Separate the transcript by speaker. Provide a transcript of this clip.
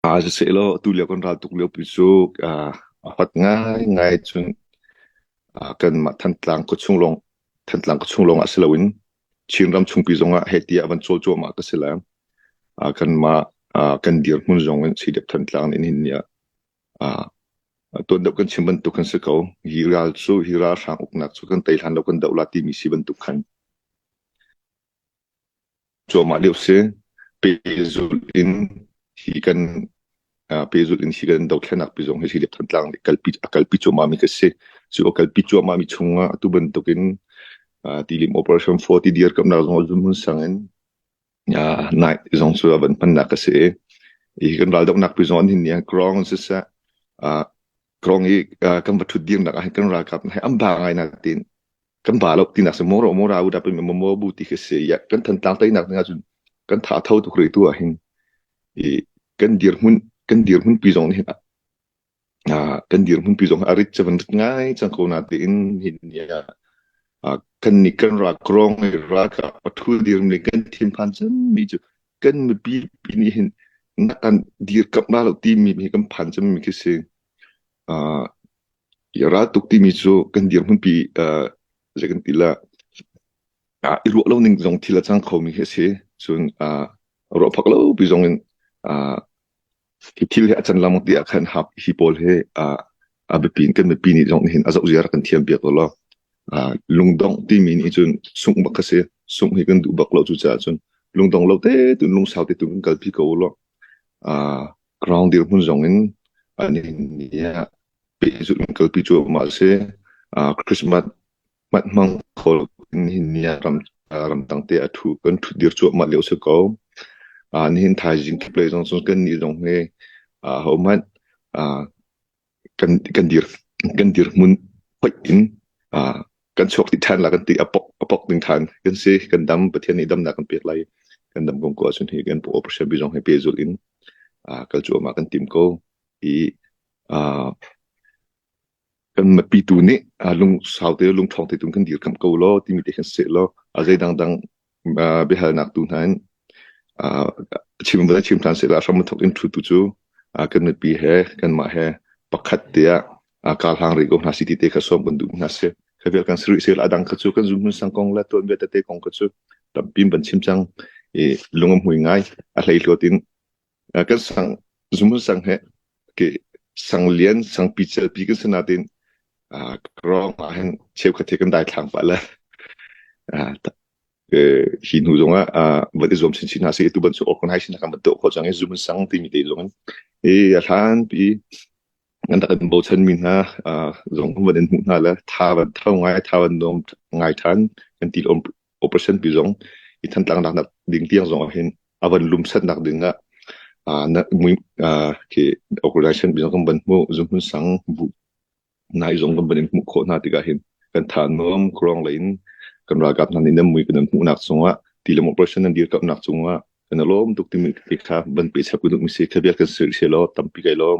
Speaker 1: Ah sisehlaw atulio kan raltuk liopi cu ah ahat ngaingai cun ah kanmah Thantlang khuachung lawng Thantlang khuachung lawngah si loin Chinram chungpi zongah heh ti ah van cawl cuahmah ka si lai. Ah kanmah ah kan dirhmun zongin Sidep Thantlang in hin nih ah tuan deuh kan chim bantuk kan si ko. Hi ral cu hi ralhrang uknak cu kan tei hlan lo kan doh la timi si bantuk khan. Cuahmah lio si. Pehzulh in hi kan pehzulh in hi kan dothlennak pi zong hi Hilip Thantlang nih kalpi a kalpi cuahmahmi ka si. Cu a kalpi cuahmahmi chungah atu bantukin tilim Operation 40 dirkamnak zong a zumun sangin nai zong cu a van hmannak ka si i hi kan raldoknak pi zong an hin nih grounds siseh Kong i kan va thut dirnak ahhin kan ralkap hei an ba ngainak tin kan ba lo tinak se moro mora u da pe me mo bu ti se ya kan than tang tainak na cun kan tha tho tu kri tu ahin i kan dir hun kan dir hun pi zong hin a kan dir hun pi zong a rit chavan ngai chang ko na te in hin ya kan ni kan ra krong ra ka pathul dir ni kan thin phan cham mi chu kan mipi pi nih hin nak an dirkamh la lo timi hi kan phan cemmi khi si. Uh, i raltuk timi cu kan dirhmun pi uh, zei kan ti la uh, i ruah lo ning zong thil a cang khomi khi si. Cun uh, ruah phak lo pi zong in uh, hi thil hi a can lam ti ah khan hi pawl hi a biapi kan mipi nih zong hin a zoh ziar kan thiam piak lo lungdong timi nih cun sungh bak a si sungh hi kan duh bak lo cu caah cun lungdong lo te tu lungsau te tu kan kalpi ko lo ground dir hmun zong in ani ni ah pehzulh in kalpi cu ma si christmas Manh-mang khawl in nihin ramdang te a ṭhu kan ṭhut dir cuahmah lio a si ko. Nihin thaizing kip lei zong cun kannih zong hi hohmanh kan dir hmun hoih in kan chuak dih ṭhan la kan ti. A pok ding ṭhan kan si. Kan dam Pathian nih damnak kan pek lai. Kan dam kong ko ahcun hi kan operation bi zong hi pehzulh in kal cuahmah kan tim ko. Hi kan na pitu nih lung sau te lungṭhawng te cun kan dirkamh ko law timi te khan siseh law zei dangdang biahalnak tu hna in chim va chim ṭhan sehla hram a thawk in ṭhutu cu kan mipi he kanmah he pakhat tiah karhlang rih ko hna si ti te kha sawm kan duh hna si kha vial kan sirih sehla adang kha cu kan zumhmun sang kong le tuanbia tete kong kha cu tampim ban chim cang i lung a hmui ngai a hlei hluat in kan sang zumun sang he ke sang lian sang pi cel pi kan si natin krong ah hin cheukhat he kan dai thlang pa le hi hnu zong ah van i zuam chinchin hna si tu ban su ok nai sin kan bat to kho chang i zumun sang ti mi te lung i a hlan pi an dak bo chan min ha zong kan van in hmu hna le tha van thau ngai tha van nom ngai than kan ti lom operation pi zong i thantlak nak ding tiang zong ah hin a van lum sat nak ding ah ah na mui ah ke organization bi kan ban mu zum hun sang bu nai zong kan ban in mu kho na tikah hin kan than nom krong lain kan ragap nan in mui kan mu nak sunga tilam operation nan dir ka nak sunga kan lom tuk timi ti kha ban pe chap ku mi se khabiat kan sir se lo tampi kai lom